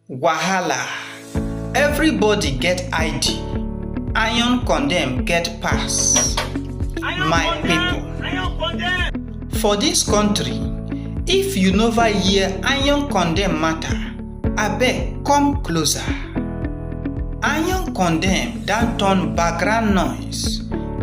Wahala Everybody get ID, iron condemn get pass. My people, for dis country, if you nova hear iron condemn matter, abeg come closer. Iron condemn don turn background noise,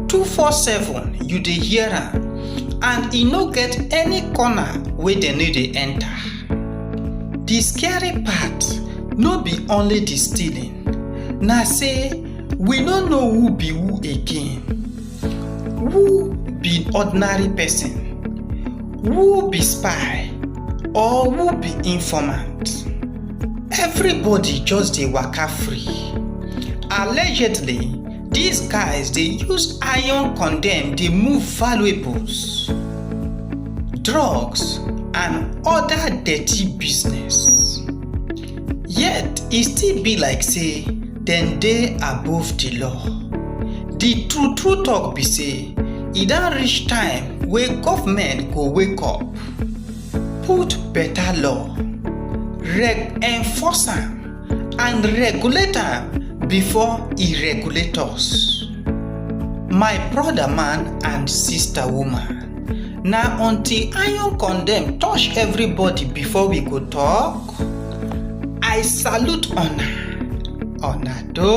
247 you dey hear am and e no get any corner wey dem no dey enter. The scary part no be only the stealing, na say we no know who be who again. Who be ordinary person? Who be spy? Or who be informant? Everybody just dey waka free. Allegedly, Dis guys dey use iron condemn dey move valuables, drugs and oda dirty business. Yet e still be like sey dem dey above di law. Di true true talk be sey e don reach time wey government go wake up, put beta law, reg enforce am. and regulate am before e regulate us. My brother man and sister woman, na until iron condemn touch everybody before we go talk? I salute una, una do.